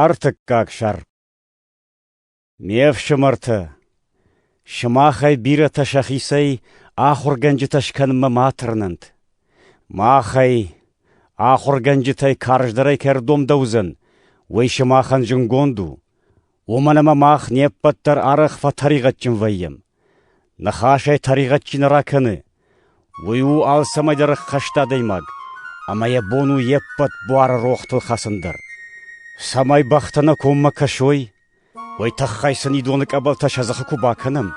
Ӕртыккаг сӕр Ме фсымӕртӕ, сымахӕй бирӕтӕ сӕхицӕй ахуыргӕнджытӕ скӕнынмӕ ма тырнӕнт. Махӕй, ахуыргӕнджытӕй карздӕрӕй кӕрдом дӕуыдзӕн, уый сымахӕн зынгонд у. Уомӕн ӕма мах не ппӕт дӕр арӕх фӕтӕригъӕдджын вӕййӕм. Ныхасӕй тӕригъӕд чи нӕ ракӕны, уый у алцӕмӕйдӕр ӕххӕст адӕймаг, ӕма йӕ бон у йе ппӕт буары рохтыл хӕцын дӕр. Цӕмӕй бӕхтӕ нӕ коммӕ кӕсой, уой тыххӕй сын идоны къӕбӕлтӕ сӕ дзыхы куы бакӕнӕм,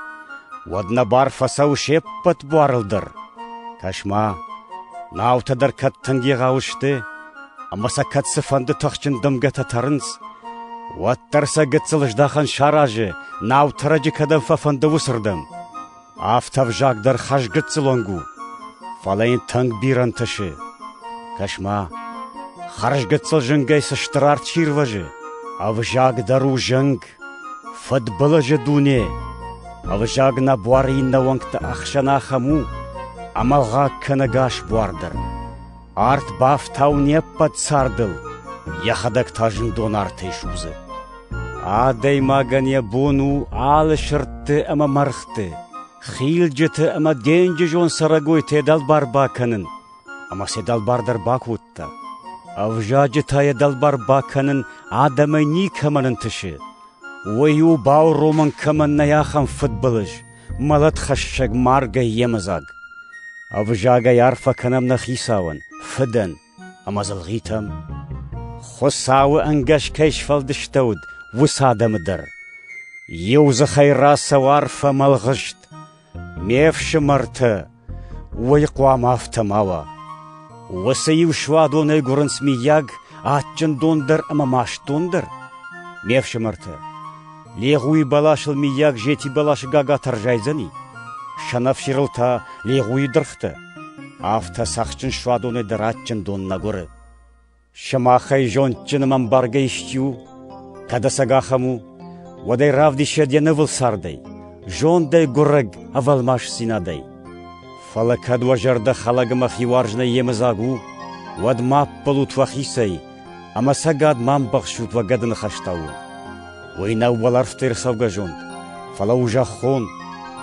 уӕд нӕ бар фӕцӕуы се ппӕт буарыл дӕр. Кӕс-ма, наутӕ дӕр кӕд тынг егъау сты, Ӕмӕ сӕ кӕд цыфӕнды тыхджын дымгӕтӕ тӕрынц, уӕддӕр сӕ гыццыл здахӕн саразы, наутӕрӕджы кӕдӕм фӕфӕнды, уыцырдӕм. Афтӕ ӕвзаг дӕр хӕрзгыццылонг у, фӕлӕ йын тынг бирӕ ӕнтысы. Кӕс-ма, хӕрзгыццыл зынгӕй цы стыр арт сирвӕзы! Ӕвзаг дӕр у зынг, фыдбылызы дуне. Ӕвзаг нӕ буары иннӕ уӕнгты ӕхсӕн ахӕм у, ӕмӕлгъаг кӕнӕ гас буар дӕр. Арт бафтауы не ппӕт цардыл, йӕхӕдӕг та зындон артӕй судзы. Адӕймагӕн йӕ бон у алы сырдты ӕмӕ мӕргъты, хилджыты ӕмӕ денджызон цӕрӕгойты дӕлбар бакӕнын. Ӕмӕ сӕ дӕлбар дӕр бакодта. Ӕвзаджы та йӕ дӕлбар бакӕнын адӕмӕй никӕмӕн ӕнтысы. Уый у бауромӕн кӕмӕн нӕй ахӕм фыдбылыз, мӕлӕтхӕссӕг маргӕй йемыдзаг. Ӕвзагӕй арфӕ кӕнӕм нӕ хицауӕн, фыдӕн ӕмӕ дзылгъитӕм. Хуыцауы ӕнгӕс кӕй сфӕлдыстӕуыд, уыцы адӕмы дӕр. Иу дзыхӕй рацӕуы арфӕ мӕ лгъыст, ме фсымӕртӕ, Уый хъуамӕ афтӕ ма уа: уыцы-иу суадонӕй гуырынц, миййаг, адджын дон дӕр ӕмӕ маст дон дӕр? Ме фсымӕртӕ, легъуйы бӕласыл, миййаг, зети бӕласы гагатӕ рзайдзӕни? Сӕнӕфсирыл та легъуйы дыргътӕ. Афтӕ цӕхджын суадонӕй дӕр адджын дон нӕ гуыры. Сымахӕй зондджыным ӕмбаргӕ исчи у? Кӕд ӕцӕг ахӕм у, уӕд ӕй равдисӕд йӕ нывыл цардӕй, зондӕй, гуырӕг, ӕвӕлмасдзинадӕй. Фӕлӕ кӕд уӕ зӕрдӕ хӕлӕг ӕмӕ хиуарзонӕй йемыдзаг у, уӕд ма ӕппӕлут фӕхицӕй ӕмӕ цӕгат ма ӕмбӕхсут уӕ гӕды ныхӕстӕ уын. Уый нӕу уӕлӕрвты ӕрцӕугӕ зонд, фӕлӕ у зӕххон,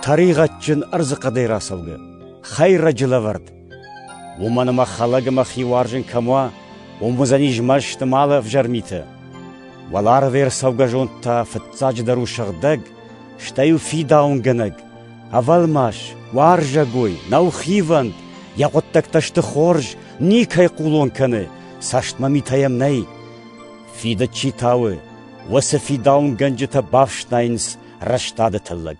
тӕригъӕдджын ӕрдзыхъӕдӕй рацӕугӕ, хӕйрӕджы лӕвӕрд, Уымӕн ӕмӕ хӕлӕг ӕмӕ хиуарзын кӕм уа, уым уыдзӕнис мӕсты малы ӕвзӕр митӕ. Уӕларвӕй ӕрцӕугӕ зонд та фыццаджыдӕр у сыгъдӕг, стӕй у фидауынгӕнӕг, ӕвӕлмас, уарзӕгой, нӕухивӕнд, йӕ хъуыддӕгтӕ сты хорз, никӕй хъулон кӕны, цӕстмӕ митӕ йӕм нӕй. Фидыд чи тауы, уыцы фидауынгӕнджытӕ бафснайынц рӕстады тыллӕг.